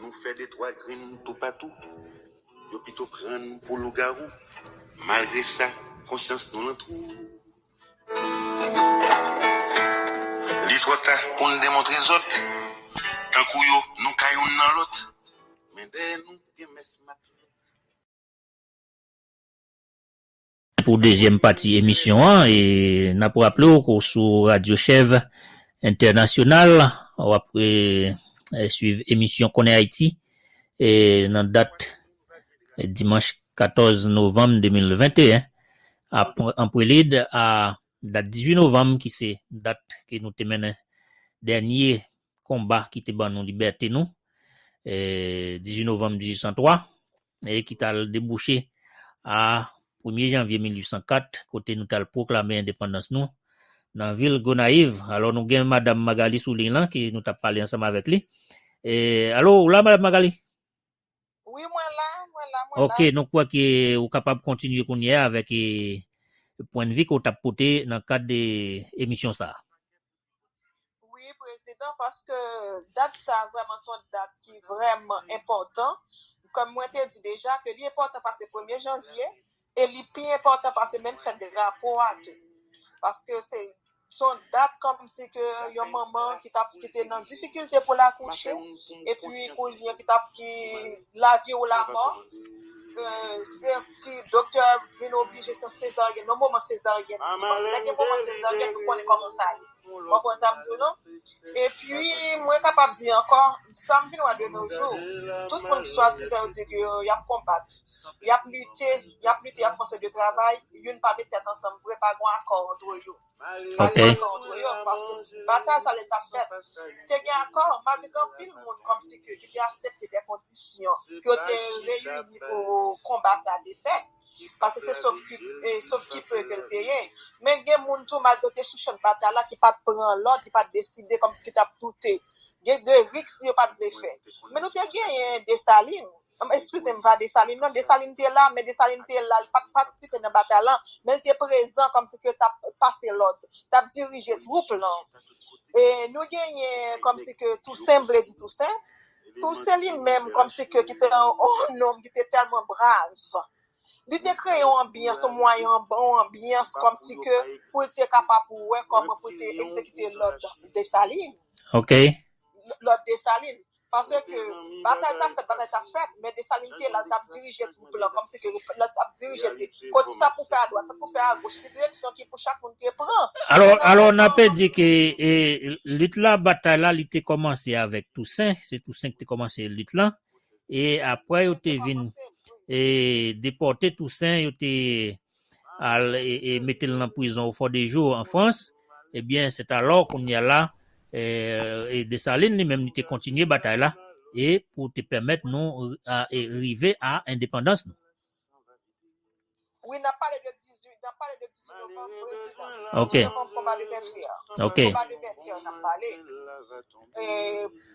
Nou fè de twa grenn toupatou, yo pito pran n pou lougarou, malgre sa konsyans nou lan twou. Li twò ta pou n demontre zòt, tankou yo nou ka youn nan lòt, men dèyè nou gen mès matlòt. Pou dezyèm pati emisyon an, n ap raple w ke w sou Radyo Chèv Entènasyonal, w ap swiv emisyon Konnen Ayiti nan dat dimanch 14 novanm 2021. An prelid a dat 18 novanm ki se dat ke nou te mennen dènye konba ki te ban nou libète nou, 18 novanm 1803, e ki t al debouche a premye janvye 1804, kote nou t al pwoklame endepandans nou nan vil Gonayiv. Alò nou gen Madam Magali sou liy lan ki nou t ap pale ansanm avèk li. Alo, ou la Madam Magali? Wi mwen la, mwen la, mwen la. Ok, nou kwè ke ou kapab kontinye kounye a avèk e pwennvi ke ou tap pote nan kad e emisyon sa a? Wi prezidan, paske dat sa a vrèman son dat ki vrèman enpòtan, kòm mwen te di deja ke li enpòtan pase premye janvye, E li pi enpòtan pase menm fèt drapo a tou. Paske se son dat kòm si ke yon manman ki tap ki te nan difikilte pou l akouche, epi kounye ki tap ki lavi ou lamò, se ki doktè vin oblije se yon sezaryèn, yon moman sezaryèn. Paske lè gen moman sezaryèn nou konnen kòman sa ye. Mwen konn sa m di w non. Epi, mwen kapab di ankò, sa m vin wè de no jou, tout moun ki swadizan yo di ke y ap konbat, y ap lite, y ap lite, y ap fè yon seri de travay, youn pa met tèt ansanm vre, pa gen yon akò antre yo. Pa gen akò antre yo, paske batay sa lè t ap fèt, te gen akò, malgre gen anpil moun kòmsi ke ki te asepte dè kondisyon ke yo te reyini pou konba sa te fèt. Pase se sof ki pe ke l te ye. Men gen moun tou malgre yo te sou chan de batay la ki pa t pran lòd, ki pa t deside kòmsi ki t ap doute. Gen de risk yo pa t vle fè. Men nou te genyen Desalin. Eskize m, pa Desalin non. Desalin te la, men Desalin te la, li pa t patisipe nan batay la, men li te prezan kòmsi ke l t ap pase lòd, t ap dirije twoup lan. E nou genyen kòmsi ke Tousen, m vle di Tousen, Tou se li menm kòmsi ke ki te yon nonm ki te tèlman brav. Li te kreye yon anbyans, yon mwayen, yon anbyans kòmsi ke pou l te kapab wè kòman pou l te egzekite lòd Desalin. Ok. Lòd Desalin. Paske batay t ap fèt, batay t ap fèt, men Desalin te la, l t ap dirije. blan kòm si ke pèp la t ap dirije di ko di sa pou fè adwat sa pou fè agoch ki direksyon ki pou chak moun te pran Alò alò na pe di ke e lit la batay la li te kòmanse avèk Tousen se Tousen ki te kòmanse lit lan e aprè yo te vin e depòte Tousen yo te al e, e mete l nan prizon o Fòdejou an Frans, ebyen setalò kounye a la e, e Desalin li menm li te kontinye batay la e pou te pèmèt nou a e rive a endepandans nou. Wi, n ap pale de 18, n ap pale de 18 novanm, prezidan. Ok. 18 novanm konba de Vètyè. Ok. Konba de Vètyè n ap pale. E.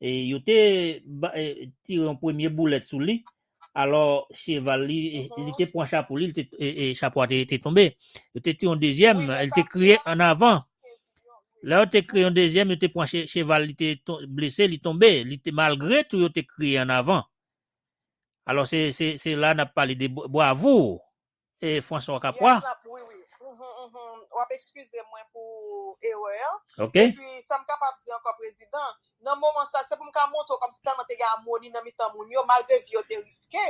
E yo te tire yon premye boulèt sou li, alò cheval li, li te pran chapo li, e chapo a te tonbe. Yo te tire yon dezyèm, li te kriye an avan. Lè yo te kriye yon dezyèm, yo te pran cheval li te blese, li tonbe, li te malgre tou yo te kriye an avan. Alò se la n ap pale de bwavoure. E François Okapwa. Yes lap wi wi. Wap ekskize mwen pou erè an. Ok. Epi sam kapab di ankò prezidan, nan moman sa se pou m ka montre w kòmsi tèlman te gen amoni nan mitan moun yo malgre vi yo te riske,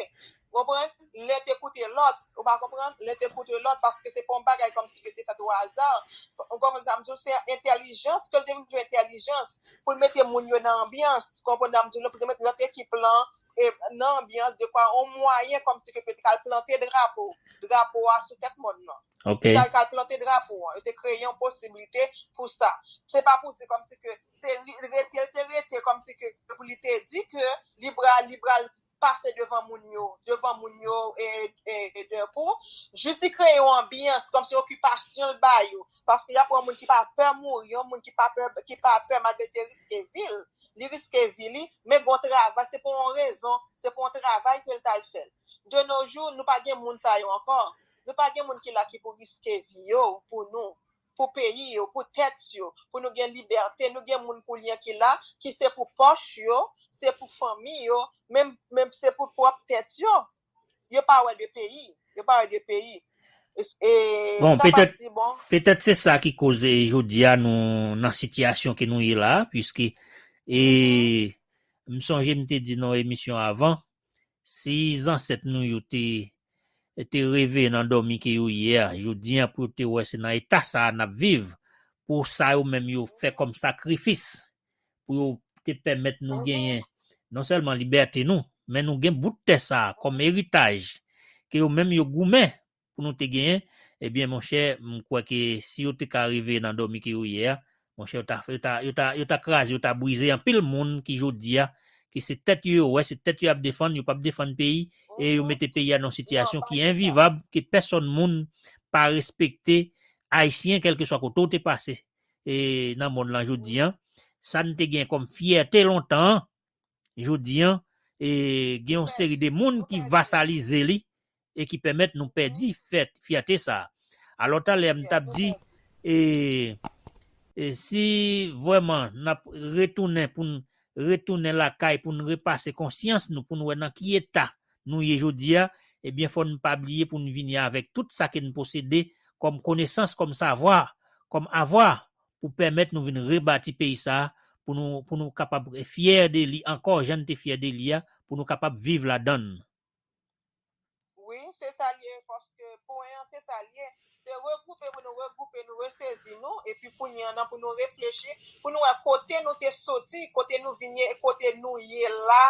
ou konprann, len te koute lòt, ou pa konprann, len te koute lòt paske se pa yon bagay kòmsi ke te fèt o aza, ou konprann sa m di w, se entèlijans ke l te vin jwenn entèlijans pou l mete moun yo nan anbyans, ou konprann sa m di w la, pou l te mete lòt ekip lan nan anbyans dekwa yon mwayen kòm si ke pou yo te ka al plante drapo, drapo a sou tèt mòn nan. Ok. Pou yo ta ka al plante drapo an. Yo te kreye yon posiblite pou sa. Se pa pou di kòm si ke se rete l te rete kòm si ke pou li te di ke li pra li pral pase devan moun yo, devan moun yo e e dè kou. Jis li kreye yon anbyans kòm si okipasyon l ba yo. Paske y ap pran yon moun ki pa pè mouri, yon moun ki pa pè ki pa pè malgre l te riske vi l. li riske vi li, men gon travay, se pou yon rezon, se pou yon travay ke l t al fè l. De nos jours, nou pa gen moun sa yo ankò. Nou pa gen moun ki la ki pou riske vi yo pou nou, pou peyi yo, pou tèt yo, pou nou gen libète. Nou gen moun koulye ki la, ki se pou pòch yo, se pou fanmi yo, menm se pou pwòp tèt yo. Yo pa wè de peyi. Yo pa wè de peyi. E Bon, kapab petèt, di bon. petèt se sa ki koz e jodi a nou nan sitiyasyon ke nou ye la a, puiske e m sonje m te di nan yon emisyon avan, si zansèt nou yo te te reveye nan dòmi ke yo ye a jodi a pou yo te wè se nan eta sa a n ap viv, pou sa yo menm yo fè kòm sakrifis pou yo te pèmèt nou genyen non sèlman libète nou, men nou gen bout tè sa a kòm eritaj ke yo menm yo goumen pou nou te genyen, ebyen monchè m kwè ke si yo te ka rive nan dòmi ke yo ye a, monchè yo ta yo ta yo ta yo ta kraze yo ta brize anpil moun ki jodi a ki se tèt yo yo wè, se tèt yo y ap defann, yo p ap defann peyi e yo mete peyi a nan yon sitiyasyon ki envivab ke pèsòn moun pa respekte Ayisyen kèlkeswa kote ou te pase e nan monn lan jodi an, sa n te gen kòm fyète lontan an, jodi an, e gen yon seri de moun ki vasalize li e ki pèmèt nou pèdi fyète sa a. Alò talè m t ap di, e si vrèman n ap retounen pou n retounen lakay pou n repase konsyans nou pou n wè nan ki eta nou ye jodi a, ebyen fò n pa bliye pou n vini avèk tout sa ke n posede kòm konesans, kòm savwa, kòm avwa, pou pèmèt nou vin rebati peyi sa a, pou nou pou nou kapab fyè de li ankò jan n te fyè de li a, pou nou kapab viv ladan l. Wi, se sa l ye, paske pwen an se sa l ye. Se regwoupe pou nou regwoupe, nou resezi nou, epi kounye an nan pou nou reflechi, pou nou wè kote nou te soti, kote nou vin ye, e kote nou ye la,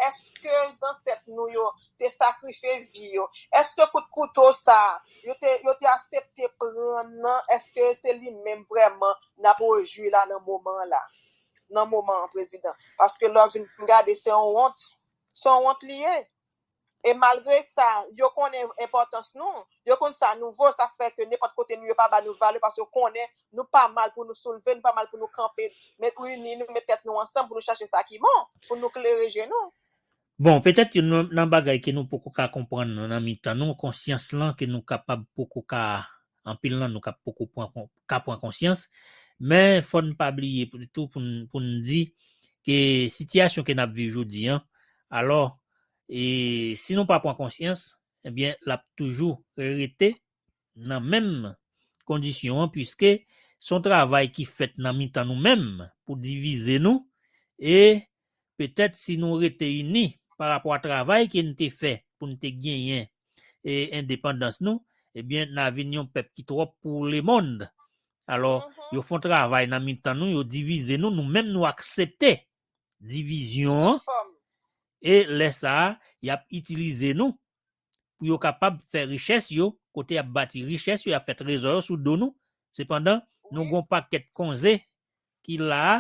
èske zansèt nou yo te sakrifye vi yo, èske kout kouto sa a, yo te, yo te asepte pran nan, èske se li menm vrèman n ap rejwi la nan moman an la, nan moman an, Prezidan? Paske lè w vin gade se yon wont, se yon wont li ye. E malgre sa, yo konnen enpòtans nou, yo konn sa nou vo, sa fè ke nenpòt kote nou ye yo pa ba nou valè paske yo konnen nou pa mal pou nou soulve, nou pa mal pou nou kanpe, met ini nou, met tèt nou ansanm pou nou chache sa ki bon, pou nou klere je nou. Bon, petèt youn nan bagay ke nou poko ka konprann nan mitan nou, konsyans lan ke nou kapab poko ka Anpil nan nou ka poko pran ka pran konsyans, men fò n pa bliye tou pou n pou n di ke sitiyasyon ke n ap viv jodi an, alò e si nou pa pran konsyans ebyen l ap toujou rete nan menm kondisyon an puiske s on travay ki fèt nan mitan nou menm pou divize nou e Petèt si nou rete ini pa rapò a travay ke n te fè pou n te genyen endepandans nou, ebyen na vin yon pèp ki twòp pou lemond. Alò, yo fon travay nan mitan nou, yo divize nou, nou menm nou aksepte divizyon an, e lè sa a, y ap itilize nou pou yo kapab fè richès yo, kote y ap bati richès yo, y ap fè trezò yo sou do nou, sepandan, nou gen yon pakèt konze ki la a,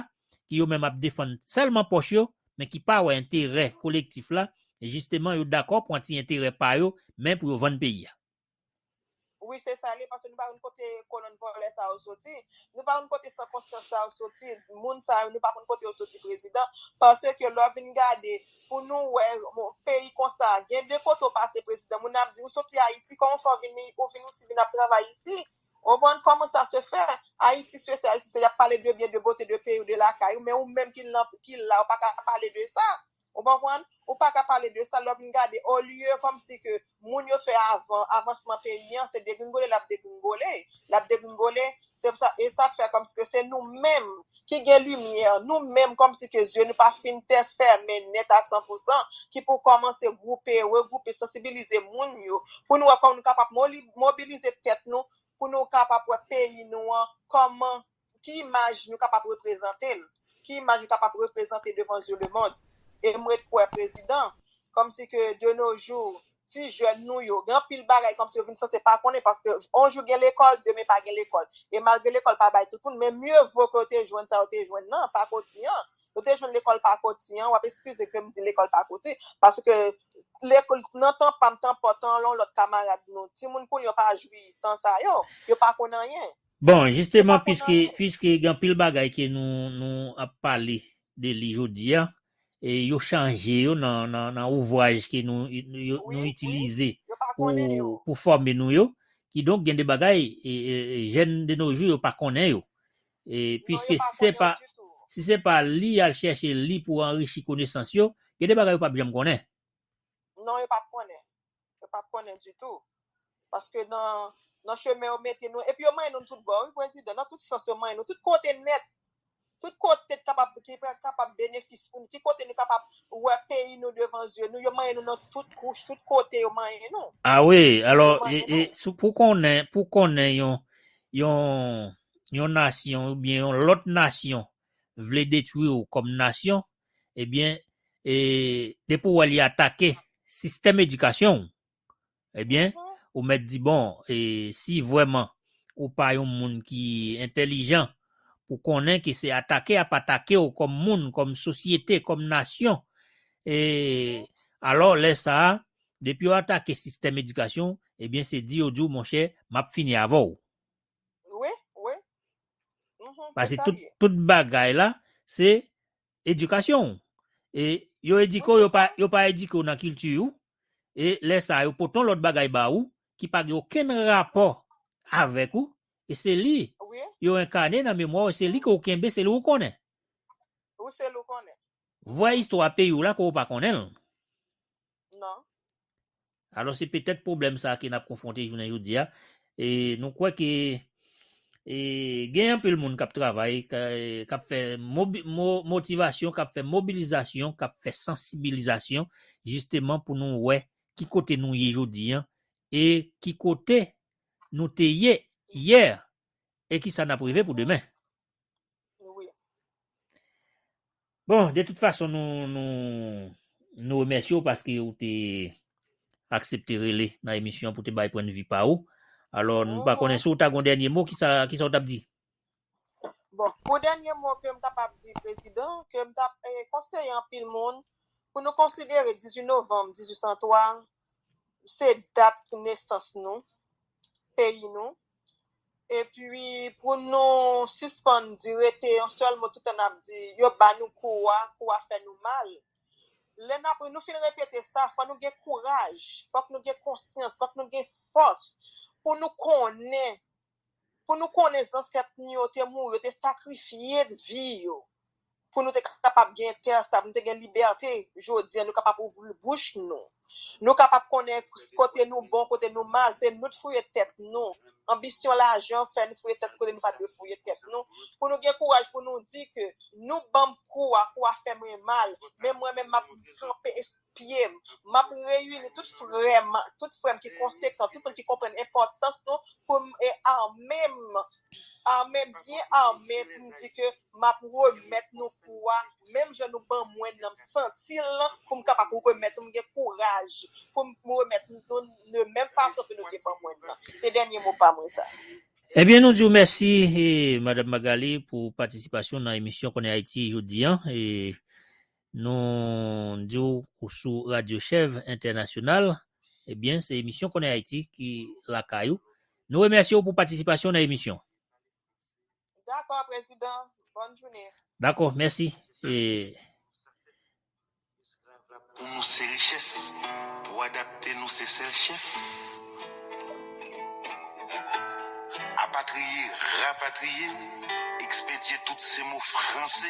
ki yo menm ap defann sèlman pòch yo, men ki pa wè enterè kolektif la, e jisteman yo dakò pran ti enterè pa yo, men pou yo vann peyi a. Wi se sa li paske nou pa konn kote kolonn vòlè sa yo soti, nou pa konn kote san konsyans sa yo soti, moun sa yo nou pa konn kote yo soti prezidan, paske lè w vin gade pou nou wè peyi konsa gen de kote w pase prezidan moun nan ap di ou soti ayiti kòman w fè w vin ni ou vin isi vin ap travay isi ou konprann kòman sa se fè ayiti sesi ayiti sela y ap pale de byen de bote de peyi w de lakay ou men ou menm ki la ou pa ka pale de sa. Ou konprann? Ou pa ka pale de sa lè w vin gade olye kòmsi ke moun yo fè avan avansman peyi an se degringole l ap degringole, l ap degringole. Se pou sa, e sa k fè kòmsi ke se nou menm ki gen limyè, nou menm kòmsi ke zye nou pa fin te fèmen nèt a san pou san ki pou kòmanse gwoupe, regwoupe, sansibilize moun yo pou nou wè kòman nou kapab mobilize tèt nou pou nou kapab wè peyi nou an kòman ki imaj nou kapab reprezante l, ki imaj nou kapab reprezante devan zye lemond. E m ret kwè, prezidan, kòmsi ke de no jou, ti jèn nou yo, gen anpil bagay kòmsi yo vin sanse pa konnen paske on jou gen lekòl, demen pa gen lekòl. E malgre lekòl pa bay tout moun, men mye vo ke yo te jwenn sa yo te jwenn nan, pakoti an. Yo te jwenn lekòl pakoti an, w ap eskize ke m di lekòl pakoti, paske lekòl, nan tan pa m, tan pa w, tan lon lòt kamarad nou, timoun kounye yo pa jwi tan sa yo, yo pa konn anyen. Bon, Se pa jisteman pou nou piske di, piske gen anpil bagay ke nou nou ap pale de li jodi a, e yo chanje yo nan nan nan ouvraj ke nou nou yo wi, nou wi, itilize yo pa pou konnen yo. pou fòme nou yo, kidonk gen de bagay e, e, e, jèn de no jou yo pa konnen yo. E Non, yo piske pa si se konnen yo pa ditou. si se pa li y al chèche li pou anrichi konesans yo, gen de bagay yo pap janm konnen. Non yo pap konnen. Yo pap konnen ditou. Paske nan chemen yo mete nou. Epi yo manyen nou tout bò wi prezidan. Nan tout sans yo manyen nou. Tout kote nèt. Tout kote ki kapab benefis pou nou. Ki kote nou kapab wè peyi nou devan zye nou. Yo manyen nou nan tout kouch. Tout kote yo manyen nou. A wi. Alò pou konnen pou konnen yon yon nasyon oubyen yon lòt nasyon vle detwi ou kòm nasyon ebyen e depi ou wè li atake sistèm edikasyon w ebyen ou mèt di bon e si vrèman ou pa yon moun ki entèlijan pou konnen ke se atake yap atake w kòm moun, kòm sosyete, kòm nasyon e alò lè sa a depi yo atake sistèm edikasyon w ebyen se di yo di w monchè map fini avè w. Wi, wi. Mhm, Pase tout, ye. tout bagay la, se edikasyon ou. E yo edike yo pa, yo pa edike ou nan kilti ou, e lè sa yo poton lòt bagay ba ou ki pa gen okenn rapò avèk ou, e se li yo enkane nan memwa ou, se li ke ou kenbe, se li ou konnen. Ou se li ou konnen. Vrè istwa peyi ou la ke ou pa konnen l. Non. Alò se petèt pwoblèm sa ke n ap konfwonte jounen jodi a. E nou kwè ke e gen anpil moun k ap travay, k ap fè motivasyon, k ap fè mobilizasyon, k ap fè sansibilizasyon jisteman pou nou wè ki kote nou ye jodi an e ki kote nou te ye yè e kisa n ap reve pou demen. Bon, de tout fason nou nou nou remèsye w paske ou te aksepte rele nan emisyon pou te bay pwennvi pa ou. Alò, m pa konnen si w ta gon dènye mo, ki sa ki sa w t ap di? Bon, pou dènye mo ke m kapab di Prezidan, ke m t ap konseye anpil moun pou nou konsidere 18 novanm 1803 se dat nesans nou, peyi nou, epi pou nou sispann di rete yon sèl mo toutan n ap di yo ba nou kou a, kou a fè nou mal. Lè n ap, nou fin repete sa, fò nou gen kouraj, fòk nou gen konsyans, fòk nou gen fòs pou nou konnen. pou nou konnen zansèt nou yo te mouri, yo te sakrifye vi yo pou nou te kapab gen tè sa, pou nou te gen libète jodi an, nou kapab ouvri bouch nou, nou kapab konnen kote nou bon, kote nou mal, se nou t fouye tèt nou, anbisyon lajan fè nou fouye tèt kote nou pa dwe fouye tèt nou, pou nou gen kouraj pou nou di ke nou banm kou a, kou a fè mwen mal, men mwen menm map kanpe esplike. pye m. M ap reyini tout frè m tout frè m ki konsekan, tout moun ki konprann enpòtans nou pou m ame m ame byen ame pou m di ke m ap remèt nou kou a menm jan nou ban mwen nan m santi l pou m kapab remèt m gen kouraj pou m remèt nou l de menm fason ke nou te ban mwen l lan. Se dènye mo pa mwen sa. Ebyen nou di w mèsi Madam Magalie pou patisipasyon w nan emisyon Konnen Ayiti jodi an. Nou di w ou sou Radyo Chèv Entènasyonal. Ebyen, se emisyon Konnen Ayiti ki lakay ou. Nou remèsye w pou patisipasyon w nan emisyon. Dakò, Prezidan. Bòn jounen. Dakò, mèsi. Pou nou se richès, pou adapte nou se sèl chèf. Apatriye, rapatriye, ekspedye tout se mo franse.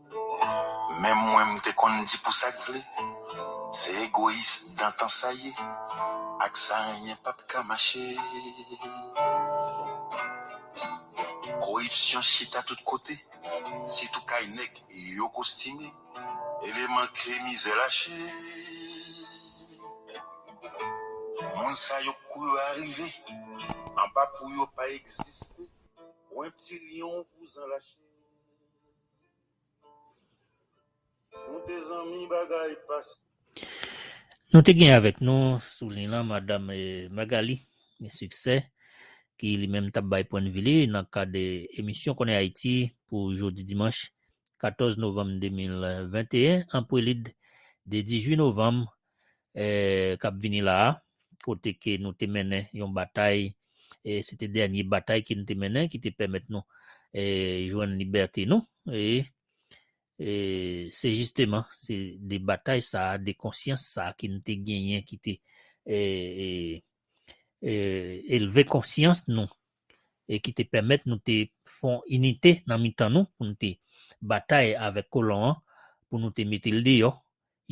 Menm mwen m te konn di pou sak vle se egoyis dantan sa ye ak sa anyen pap ka mache koripsyon chita tout kote sitou kay nèg yo kostime eleman ke mizè lache moun sa yo k kou yo arive anba pou yo pa egziste pwen ti lyon vouzan lache. Nou te gen avèk nou sou liy lan Madam Magalie Succès ki li menm t ap bay pwennvi li nan kad emisyon Konnen Ayiti pou jodi dimanch 14 novanm 2021 an prelid de 18 novanm eh, kap vini la a, kote ke nou te mennen yon batay, eh, se te dènye batay ke nou te mennen ki te pèmèt nou, eh, jwenn libète nou, eh, eh, se jisteman, se de batay sa a, de konsyans sa a ke nou te genyen ki te, eh, eh, eh, elve konsyans nou, e ki te pèmèt nou te fon inite nan mitan nou, pou nou te batay avèk kolon an, pou nou te mete l deyò,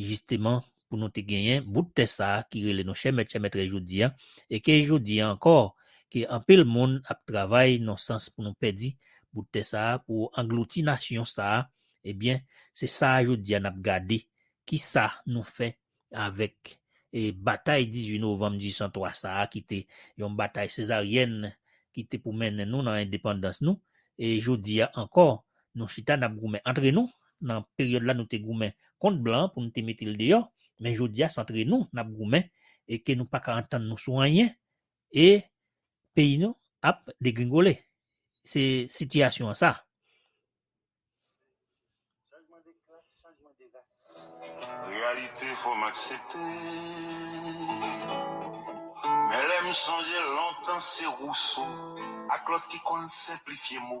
jisteman pou nou te genyen bout tè sa ki rele nou chèmèt chèmètrès jodi a, e ke jodi a ankò ke anpil moun ap travay nan sans pou nou pèdi bout tè sa pou anglouti nasyon sa, ebyen se sa jodi a nap gade kisa nou fè avèk e batay 18 novanm 1803 sa ki te yon batay sezaryèn ki te pou mennen nou nan endepandans nou, e jodi a ankò nou chita nap goumen antre nou Nan peryòd la nou te goumen kont blan pou nou te mete l deyò, men jodi a s antre nou n ap goumen e ke nou pa ka antann nou sou anyen e peyi nou ap degringole. Se sitiyasyon an sa. Chanjman de klas, chanjman de ras. Reyalite fò m aksepte. Men lè m sonje lontan se Rousseau ak lòt ki konn senplifye mo.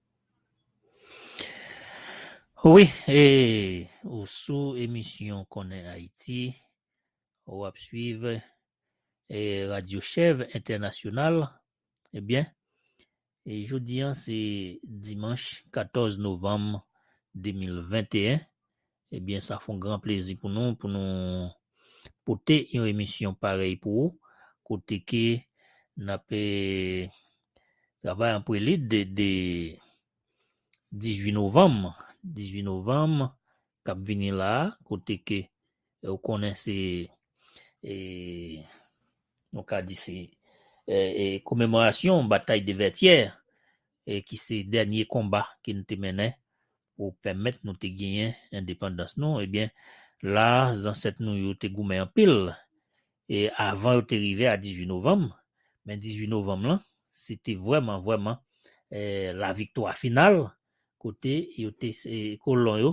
Wi e ou sou emisyon konnen Ayiti, ou ap swiv e radyo chèv entènasyonal, ebyen e jodi an se dimanch 14 novanm 2021 Ebyen sa fon gran plezi pou nou pou nou pote yon emisyon parèy pou ou kote ke n ap travay an prelid de 18 novanm 18 novanm k ap vini la a kote ke ou konnen se nou ka di se komemorasyon batay de Vètyè ki se dènye konba ke n te mennen pou pèmèt nou te genyen endepandans nou, ebyen la zansèt nou yo te goumen anpil e avan yo te rive a 18 novanm, men 18 novanm lan se te vrèman vrèman laviktwa final kote yo te kolon yo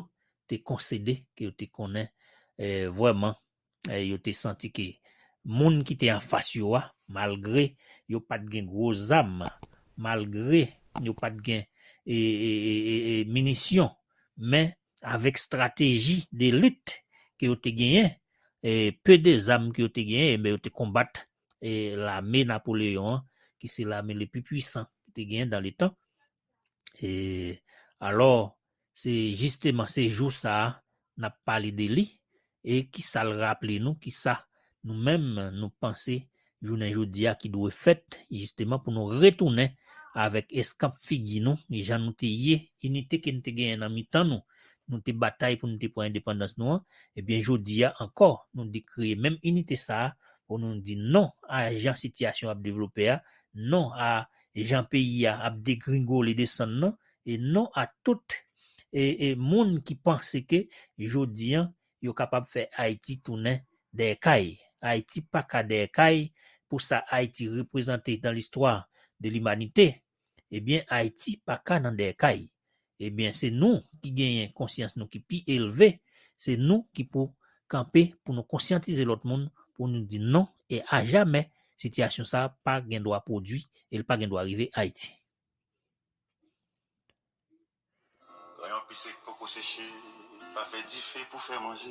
te konsede ke yo te konnen vrèman eh, yo te santi ke moun ki te anfas yo a, malgre yo pa t gen gwo zam, malgre yo pa t gen e, e, e, e, e minisyon, men avèk strateji de lit ke yo te genyen, e peu de zam ke yo te genyen, enben yo te konbat e lame Napoleon an, ki se lame le pi pwisan ki te genyen dan le tan, E alò, se jisteman se jou sa a n ap pale de li e ki sa l raple nou, ki sa nou menm nou panse jounen jodi a ki dwe fèt jisteman pou nou retounen avèk eskanp figi nou jan nou te ye, inite ke n te genyen nan mitan nou, nou te batay pou nou te pran endepandans nou an, ebyen jodi a ankò nou di kreye menm inite sa a pou nou di non a jan sitiyasyon ap devlope a, non a Jan peyi a ap degringole desann nan e non a tout e moun ki panse ke jodi an yo kapab fè Ayiti tounen dèyè kay. Ayiti pa ka dèyè kay pou sa Ayiti reprezante dans l'histoire de l'humanité. Ebyen Ayiti pa ka nan dèyè kay. Ebyen se nou ki genyen konsyans nou ki pi elve, se nou ki pou kanpe pou nou konsyantize lòt moun pou nou di non e a jamè sitiyasyon sa pa gen dwa pwodwi e l pa gen dwa rive Ayiti. Nan yon pise k poko seche pa fè dife pou fè manje.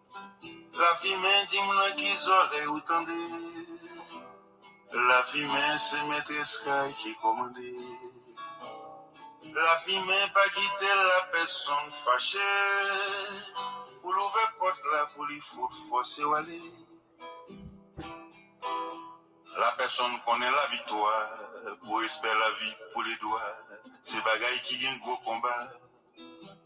Lafimen dim nan ki zòrèy ou tande Lafimen se mètrès kay ki kòmande Lafimen pa kite la pèsonn fache Pou l ouvè pòt la pou li fout fòse w ale La pèsonn konnen laviktwa Pou respè lavi pou ledwa Se bagay ki gen gwo konba.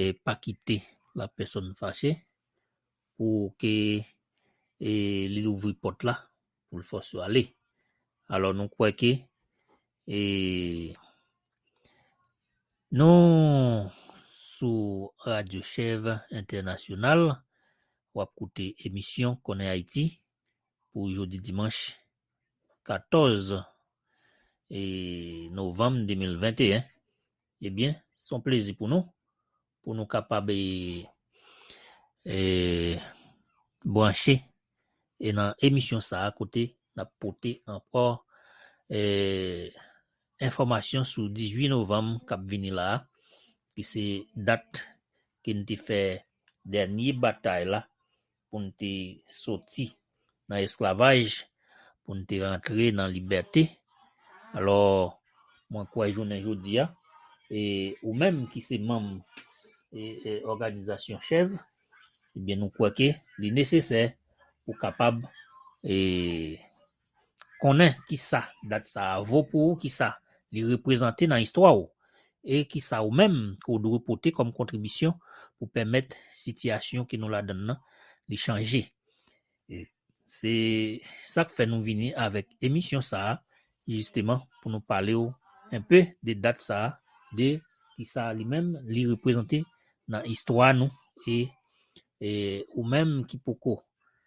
e pa kite la pèsòn fache pou ke e li louvri pòt la pou l fòs yo ale. Alò nou kwè ke e nou sou Radyo Chèv Entènasyonal, w ap koute emisyon Konnen Ayiti pou jodi dimanch 14 e novanm 2021. Ebyen, se yon plezi pou nou, pou nou kapab e branche e nan emisyon sa a kote n ap pote ankò e enfòmasyon sou 18 novanm k ap vini la a ki se dat ke n te fè dènye batay la pou n te soti nan esklavaj, pou n te rantre nan libète. Alò, mwen kwè jounen jodi a, e ou menm ki se manm òganizasyon CHEV, ebyen nou kwè ke li nesesè pou kapab e. Konnen kisa dat sa a vo pou ou, kisa li reprezante nan istwa ou, e kisa ou menm ke w dwe pote kòm kontribisyon pou pèmèt sitiyasyon ke nou ladan l lan li chanje. E se sa k fè nou vini avèk emisyon sa a jisteman pou nou pale w enpe de dat sa a, de kisa li menm li reprezante nan istwa nou e ou menm ki poko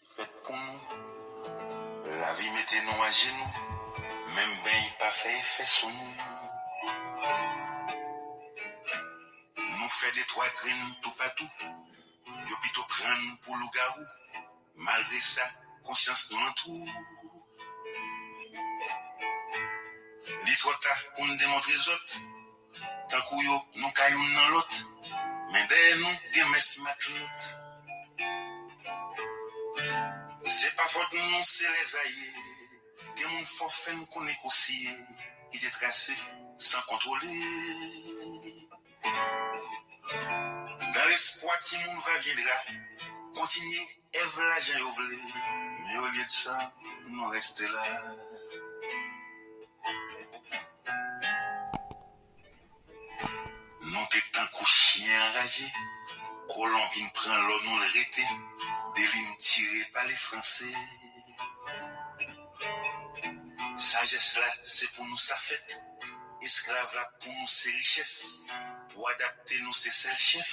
Li fèt pou nou, lavi mete nou ajenou, menm beny pa fè efè sou nou. Nou fè de twa grenn toupatou, yo pito pran n pou lougawou, malgre sa, konsyans nou nan twou. Li twò ta pou n demontre zòt. Tankou yo, nou ka youn nan lòt. Men dèyè nou gen mès matlòt. Se pa fòt nou se lèz a ye. Gen moun fò fè n konnen kou siye. Kite trase san kontwole. Nan lespwa timoun va vyendra. Kontinye. Èv la jan yo vle men olye de sa nou reste la. Nou te tankou chyen anraje kolon vin pran lò nou l rete deli n tire pale franse sajès la se pou nou sa fèt esklav la pou nou se richès pou adapte nou se sèl chèf.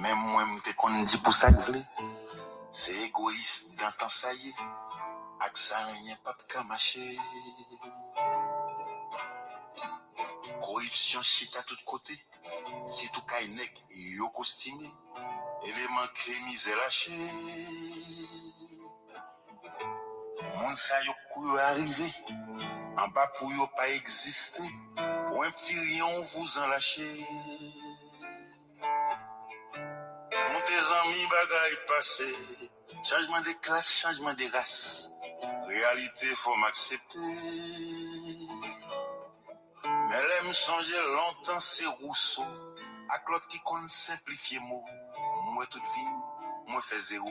Menm mwen m te konn di pou sak vle se egoyis dantan sa ye ak sa anyen pap ka mache koripsyon chita tout kote sitou kay nèg yo kostime eleman ke mizè lache moun sa yo kou yo arive anba pou yo pa egziste pwen pti ryen yon vouzan lache. Moute zanmi bagay pase. Chanjman de klas chanjman de ras reyalite fòm aksepte men lèm sonje lontan se Rousso ak lòt ki konn senplifye mo mwen tout vim mwen fè zero.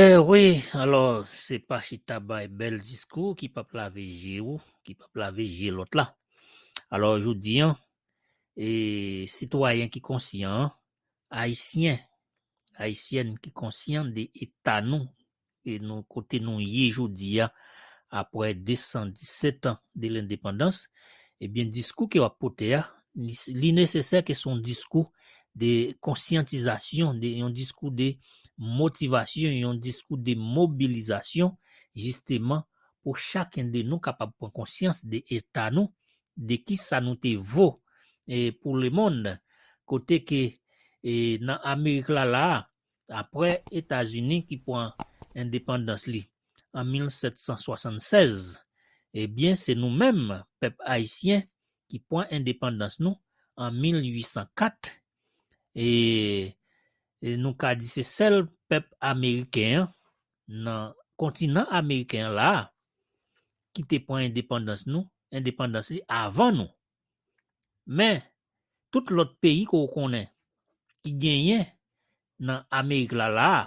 Eh wi, alò se pa chita bay bèl diskou ki pap lave je ou, ki pap lave je lòt la. Alò jodi an, e sitwayen ki konsyan an, ayisyen, ayisyèn ki konsyan de eta nou, e nou kote nou ye jodi a apre 217 an de lendepandans, ebyen diskou ke wap pote a, li nesesè ke son diskou de konsyantizasyon, de yon diskou de motivasyon, yon diskou de mobilizasyon jisteman pou chaken de nou kapab pran konsyans de eta nou, de kisa nou te vo pou lemond, kote ke nan Amerik la la a, apre Etazini ki pran endepandans li an 1776, ebyen se nou menm pèp ayisyen ki pran endepandans nou an 1804 e nou ka di se sèl pèp ameriken an nan kontinan ameriken an la a ki te pran endepandans nou endepandans li avan nou. Men, tout lòt peyi ke w konnen ki genyen nan Amerik la la a,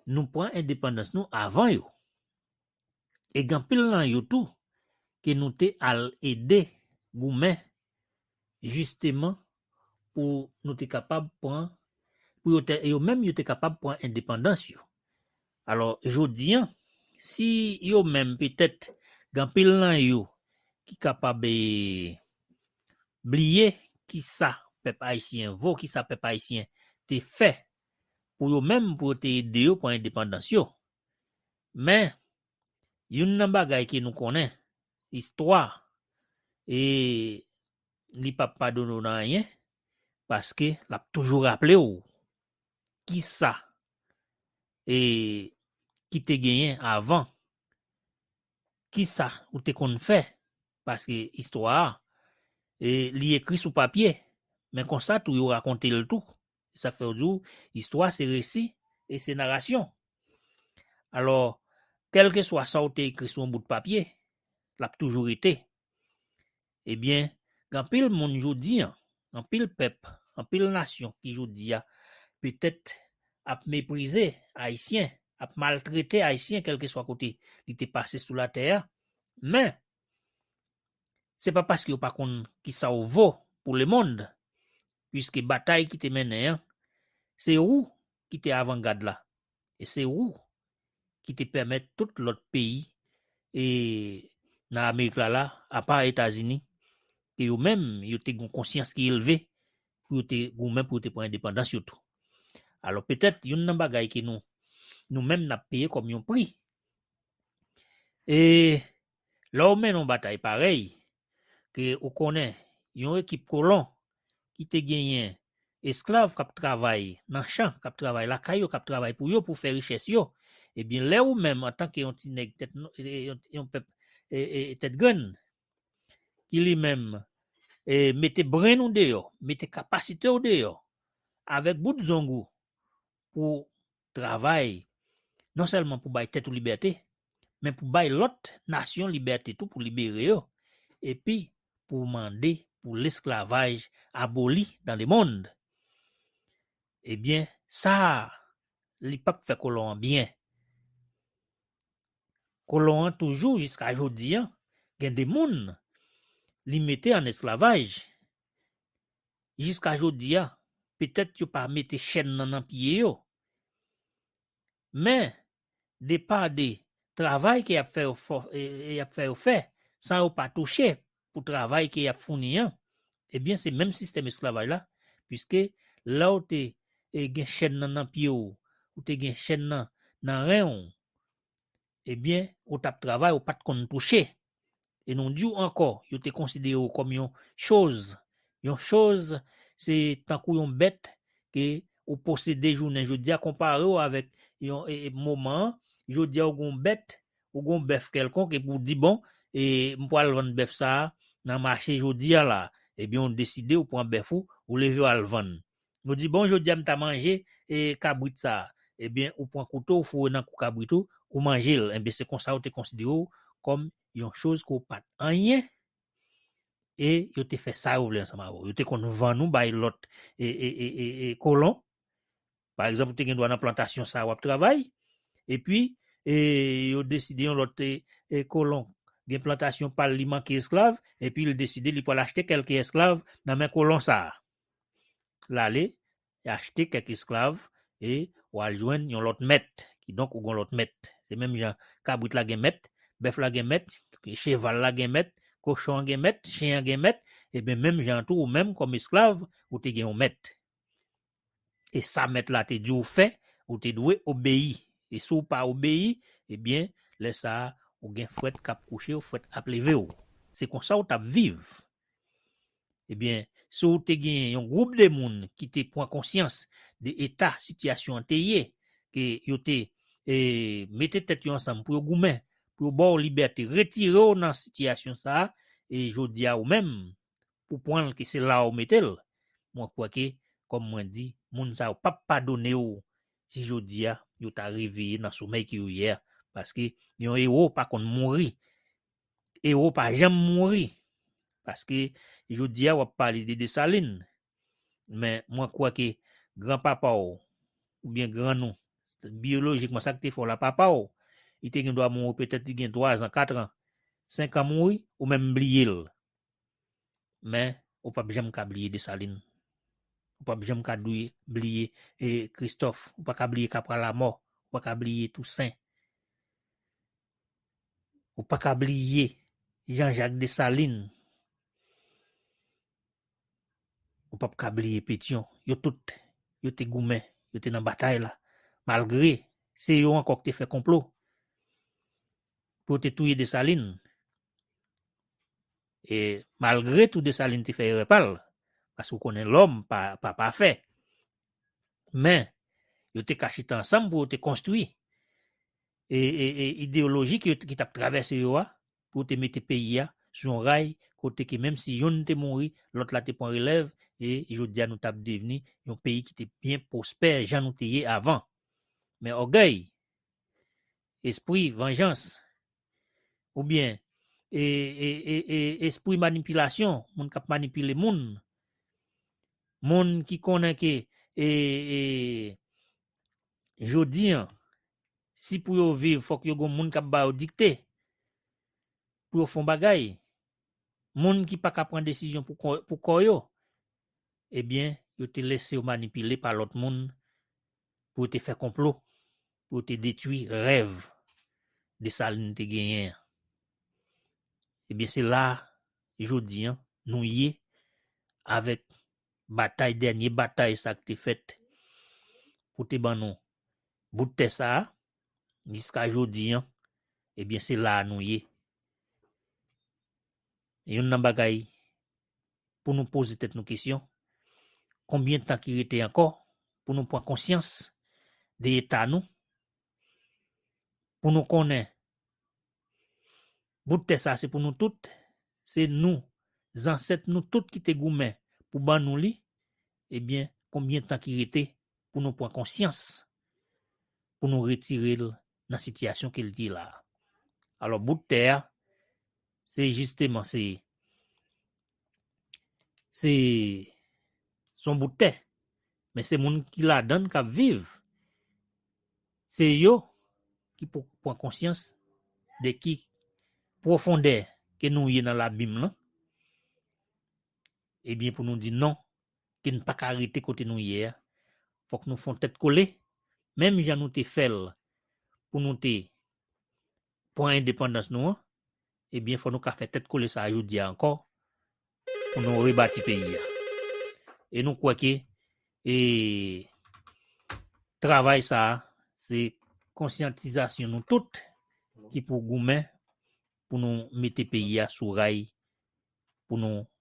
nou pran endepandans nou avan yo. E gen anpil nan yo tou ke nou te al ede goumen jisteman pou nou te kapab pran pou yo te yo menm yo te kapab pran endepandans yo. Alò jodi an si yo menm petèt gen pil nan yo ki kapab e bliye ki sa pèp ayisyen vo, ki sa pèp ayisyen te fè pou yo menm pou yo te ede yo pran endepandans yo. Men youn nan bagay ke nou konnen istwa e li pap padone w nan anyen paske lap toujou raple w kisa e ki te genyen avan kisa ou te konn fè paske istwa a e li ekri sou papye men konsa tou yo rakonte l tou se sak fè yo di w istwa se resi e se narasyon alò kèlkeswa sa w te ekri sou yon bout papye lap toujou rete Ebyen, gen anpil moun jodi an, anpil pèp, anpil nasyon ki jodi a petèt ap meprize Ayisyen, ap maltrete Ayisyen kèlkeswa kote li te pase sou latè a, men, se pa paske yo pa konn kisa w vo pou lemond, puiske batay ki te mennen an, se ou ki te avangad la, e se ou ki te pèmèt tout lòt peyi e nan Amerik la la, apa Etazini, ke yo menm yo te gon konsyans ki elve pou yo te goumen pou yo te pran endepandans yo tou. Alò petèt youn nan bagay ke nou nou menm nap peye kòm yon pri e lè w mennen yon batay parèy, ke ou konnen yon ekip kolon ki te genyen esklav k ap travay nan chan, k ap travay lakay yo, k ap travay pou yo, pou fè richès yo, ebyen lè ou menm antanke yon ti nèg tèt, yon pèp tèt grenn, ki li menm mete brenn ou deyò, mete kapasite ou deyò, avèk bout zong ou, pou travay non sèlman pou bay tèt ou libète, men pou bay lòt nasyon libète tou pou libere yo, epi pou w mande pou lesklavaj aboli dan le monn. Ebyen, sa a, li pap fè kolon an byen. Kolon an toujou jiska jodi an gen de moun li mete an esklavaj jiska jodi a, petèt yo pa mete chèn nan nan pye yo, men de pa de travay ke y ap fè y ap fè yo fè san yo pa touche pou travay ke y ap founi an, ebyen se menm sistèm esklavaj la, piske lè w te gen chèn nan nan pye w, ou te gen chèn nan nan ren w, Ebyen, ou t ap travay ou pa t konn touche. E nou di w ankò, yo te konsidere w kòm yon choz. Yon choz, se tankou yon bèt ke ou posede jounen jodi a, konpare w avèk yon moman an, jodi a ou gen yon bèt, ou gen yon bèf kèlkonk epi ou di bon, e m pral vann bèf sa a nan mache jodi a la. Ebyen ou deside ou pran bèf ou, ou leve w al vann. Nou di bon jodia m ta manje e kabrit sa a ebyen ou pwan kouto ou foure nan kou kabrit ou ou manje l ebyen se konsa yo te konsidere w kòm yon choz ke w pat anyen e yo te fè sa yo vle ansanm avè w yo te konn vann ou bay lòt e kolon pa egzanp ou te gen dwa nan plantasyon sa a wap travay epi e yo deside yon lòt e kolon gen plantasyon pa l li manke esklav epi l deside li pwal achte kèlke esklav nan men kolon sa a. L ale, li achte kèk esklav e w al jwenn yon lòt mèt. Kidonk, ou gen yon lòt mèt. Se menm jan kabrit la gen mèt, bèf la gen mèt, cheval la gen mèt, kochon an gen mèt, chen an gen mèt, eben menm jan an tou ou menm kòm esklav, ou te gen yon mèt. E sa mèt la te di w fè, ou te dwe obeyi. E si w pa obeyi, ebyen, lè sa a, ou gen fwèt k ap kouche w, fwèt ap leve w. Se konsa w t ap viv. Ebyen, si w te genyen yon gwoup de moun ki te pran konsyans de eta sitiyasyon an te ye, ke yo te mete tèt yo ansanm pou yo goumen, pou yo ba w libète, retire w nan sitiyasyon sa a, e jodi a ou menm, ou pran l ke se la ou mete l, mwen kwè ke, kòm mwen di, moun sa yo p ap padone w si jodi a yo ta reveye nan somèy ke yo ye a, paske yon ewo pa konn mouri, Ewo pa janm mouri. Paske jodi a wap pale de Desalin. Men mwen kwè ke gran papa w, ou byen gran nou, biyolojikman sa ki te fè w la papa w, li te gen dwa mouri petèt li gen 3 zan, 4 an, 5 an mouri, ou menm bliye l. Men ou pap janm ka bliye Desalin. Ou pap janm ka dwe bliye Kristòf. Ou pa ka bliye Kapra Lamò. Ou pa ka bliye Tousen. Ou pa ka bliye Jean Jacques Dessalines. Ou pap ka bliye Pétion. Yo tout, yo te goumen, yo te nan batay la. Malgre, se yo ankò ki te fè konplo pou yo te touye Dessalines. E malgre tou Dessalines te fè erè pa l, paske ou konnen lòm pa pafè. Men, yo te ka chita ansanm pou yo te konstwi e ideyoloji ki t ap travèse yo a pou yo te mete peyi a sou yon ray kote ke menm si yonn te mouri, lòt la te pran relèv e jodi a nou t ap devni yon peyi ki te byen pwospè jan nou te ye avan. Men ògèy, espri vanjans oubyen espri manipilasyon, moun k ap manipile moun, moun ki konnen ke Jodi an, si pou yo viv fòk yo gon moun k ap ba yo dikte pou yo fon bagay, moun ki pa ka pran desizyon pou kò yo, ebyen yo te lese yo manipile pa lòt moun pou yo te fè konplo pou yo te detwi rèv Desalin te genyen an. Ebyen se la jodi an nou ye avèk batay dènye batay sa k te fèt pou te ban nou bout tè sa a jiska jodi an ebyen se la a nou ye youn nan bagay pou nou poze tèt nou kesyon konbyen tan ki rete ankò pou nou pran konsyans de eta nou pou nou konnen Bout tè sa se pou nou tout, se nou, zansèt nou tout ki te goumen pou ban nou li, ebyen konbyen tan ki rete pou nou pran konsyans, pou nou retire l nan sitiyasyon ke l ye la a. Alò bout tè a se jisteman se se son bout tè, men se moun ki ladann kap viv, se yo ki pou pran konsyans de ki pwofondè ke nou ye nan labim lan, ebyen eh pou nou di non, ke n pa ka rete kote nou ye a, fòk nou fon tèt kole, menm jan nou te fèl pou nou te Pran endepandans nou an, ebyen fò nou ka fè tèt kole sa a jodi a ankò pou nou rebati peyi a. E nou kwè ke e travay sa a se konsyantizasyon nou tout ki pou goumen pou nou mete peyi a sou ray pou nou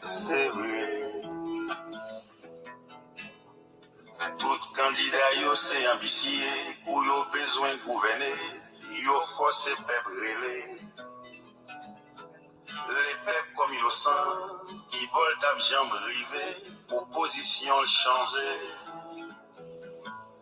Se vre, tout kandida yo se anbisye, kou yo bezwen gouvène, yo fòse pèp rele. Lepèp kòm yo san, ki bò l t ap janm rive pou pozisyon l chanje?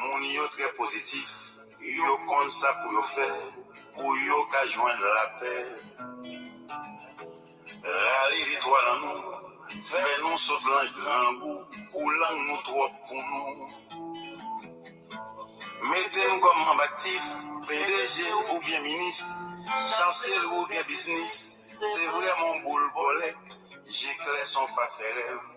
Moun yo trè pozitif, yo konn sa pou yo fè pou yo ka jwenn lapè. Rale litwa nan nou, fè nou sot lan grangou pou lang nou twòp pou nou. Mete n kòm manb aktif, pdg oubyen minis, chanseli ou gen biznis, se vrèman w boul bòlèt, je klè san w pa fè rèv.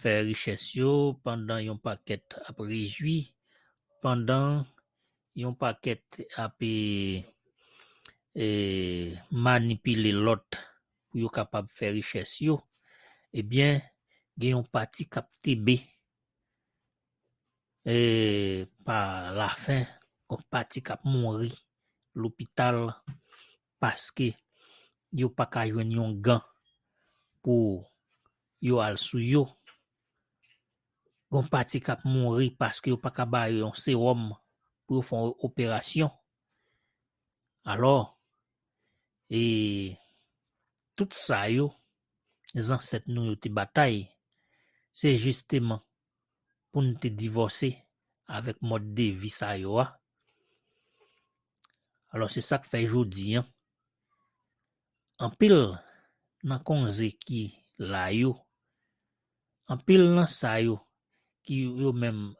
fè richès yo pandan yon pakèt ap rejwi pandan yon pakèt ap manipile lòt pou yo kapab fè richès yo ebyen gen yon pati kap tebe pa lafen yon pati kap mouri lopital paske yo pa ka jwenn yon gan pou yo al sou yo, gon pati k ap mouri paske yo pa ka ba yo yon sewòm pou yo fè yon operasyon. Alò, e tout sa yo, zansèt nou yo te batay, se jisteman pou nou te divòse avèk mòd de vi sa yo a. Alò se sak fè jodi an, anpil nan konze ki la yo, anpil nan sa yo ki yo menm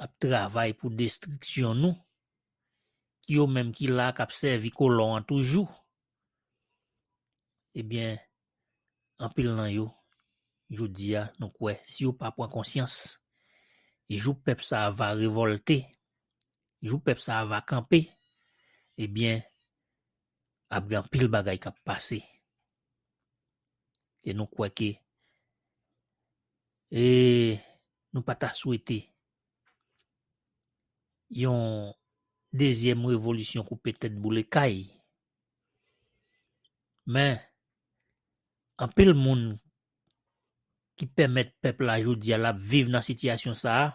ap travay pou destriksyon nou, ki yo menm ki la kap sèvi kolon an toujou, ebyen anpil nan yo jodi a nou kwè si yo pa pran konsyans jou pèp sa va revolte jou pèp sa va kanpe ebyen ap gen anpil bagay kap pase e nou kwè ke e nou pa ta swete yon dezyèm revolisyon koupe tèt boule kay Men, anpil moun ki pèmèt pèp la jodi a l ap viv nan sitiyasyon sa a,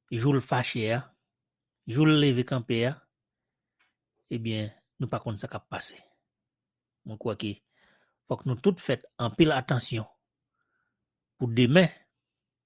jou l fache a, jou l leve kanpe a, ebyen nou pa konn sa k ap pase. Mwen kwè ke fòk nou tout fèt anpil atansyon pou demen.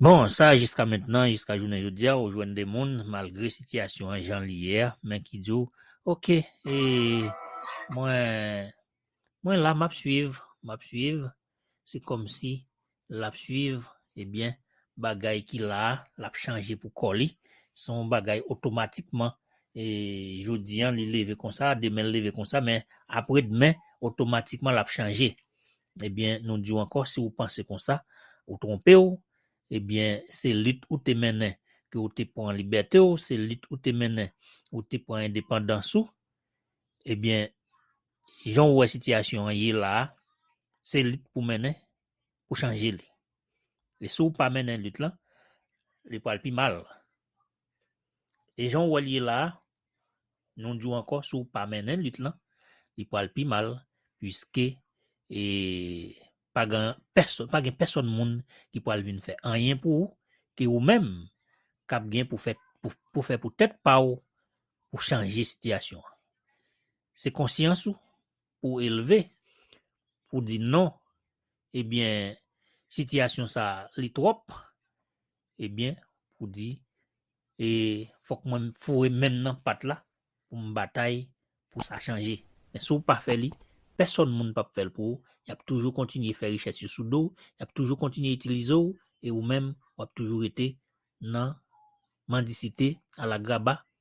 Bon sa jiska mentnan jiska jounen jodia ou jwenn de moun malgre sitiyasyon an jan li ye a men ki di w ok e mwen mwen la map swiv map swiv se kòmsi lap swiv ebyen bagay ki la a lap chanje pou kò li se yon bagay otomatikman e jodi an li leve konsa demen l leve konsa men apredmen otomatikman lap chanje Ebyen nou diw ankò si ou panse konsa ou tronpew ebyen se lit ou te mennen ke ou te pran libètew se lit ou te mennen ou te pran endepandans ou ebyen jan ou wè sitiyasyon an ye la se lit pou mennen pou chanje li e si ou pa mennen lit lan li pral pi mal e jan ou wèl ye la Nou di w ankò si w pa mennen lit lan, li pral pi mal puiske e pa gen pèsonn pa gen pèsonn moun ki pral vin fè anyen pou ou ke ou menm kap gen pou fè pou, pou fè pou tèt pa w pou chanje sitiyasyon an. Se konsyans ou pou w elve pou w di non ebyen sitiyasyon sa li twòp Ebyen pou di e fok mwen foure menm nan pat la pou m batay pou sa chanje men si w pa fè li pèsòn moun pap fè l pou ou y ap toujou kontinye fè richès yo sou do w y ap toujou kontinye itilize w e ou menm w ap toujou rete nan mandisite alagraba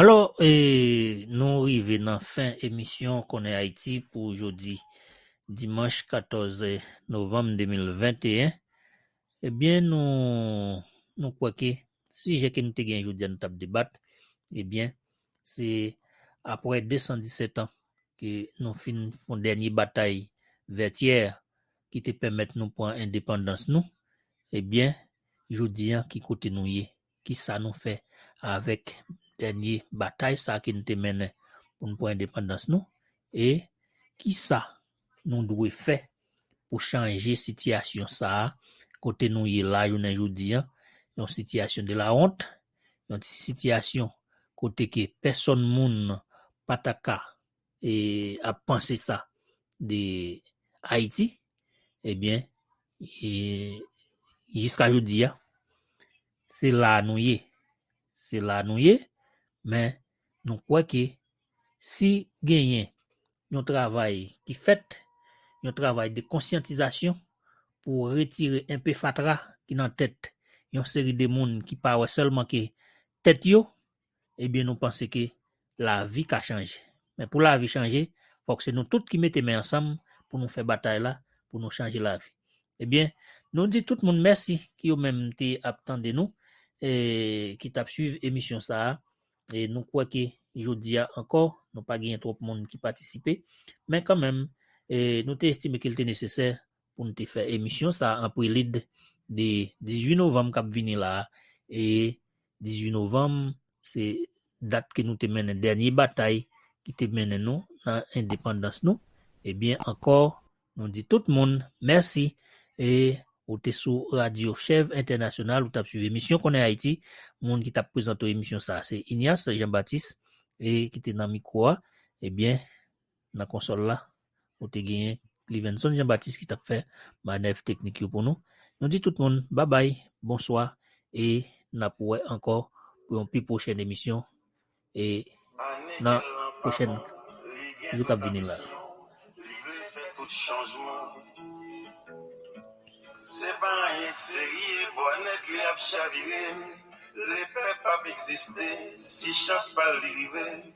Alò e nou rive nan fen emisyon Konnen Ayiti pou jodi dimanch 14 novanm 2021. Ebyen nou nou kwè ke sijè ke nou te gen jodi a nou tap debat ebyen se apre 217 an ke nou fin fon dènye batay Vètyè ki te pèmèt nou pran endepandans nou, ebyen jodi an ki kote nou ye, ki sa nou fè avèk dènye batay sa ke nou te mennen pou nou pran endepandans nou e ki sa nou dwe fè pou chanje sitiyasyon sa a kote nou ye la jounen jodi an, yon sitiyasyon de la wont, yon sitiyasyon kote ke pèsòn moun pa ta ka. e ap panse sa de Ayiti, ebyen, e jiska jodi a, se la a nou ye. Se la a nou ye, men nou kwè ke si genyen yon travay ki fèt, yon travay de konsyantizasyon pou retire enpe fatra ki nan tèt yon seri de moun ki pa wè sèlman ke tèt yo, ebyen nou panse ke lavi ka chanje. Men pou lavi chanje, fòk se nou tout ki mete men ansanm pou nou fè batay la, pou nou chanje lavi. Ebyen, nou di tout moun mèsi ki yo menm te ap tande nou, ki t ap swiv emisyon sa a. E nou kwè ke jodi a ankò, nou pa genyen twòp moun ki patisipe, men kanmenm, nou te estime ke li te nesesè pou n te fè emisyon sa an prelid de 18 novanm k ap vini la a e 18 novanm se dat ke nou te mennen dènye batay ki te mennen nou nan endepandans nou ebyen ankò nou di tout moun mèsi e ou te sou radyo chèv entènasyonal ou t ap swiv emisyon konnen ayiti moun ki t ap prezante w emisyon sa a se Ignace Jean Baptiste e ki te nan mikwo a ebyen. nan konsòl la, nou te genyen Clivenson Jean Baptiste ki tap fè manèv teknik yo pou nou. Nou di tout moun babay, bonswa e nap wè ankò pou yon pi pwochèn emisyon e nan pwochèn jou kap vini la.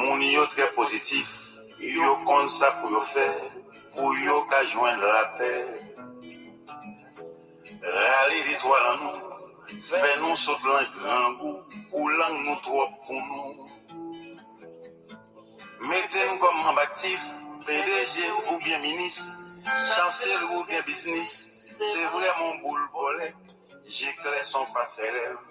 Moun yo trè pozitif, yo konn sa pou yo fè pou yo ka jwenn lapè. Rale detwa lan nou, fè nou sot lan grangou pou lang nou twòp pou nou. Mete n kòm manb aktif, pdg oubyen minis, chanseli oubyen biznis, se vrèman w boul bòlèt, je klè san w pa fè rèv.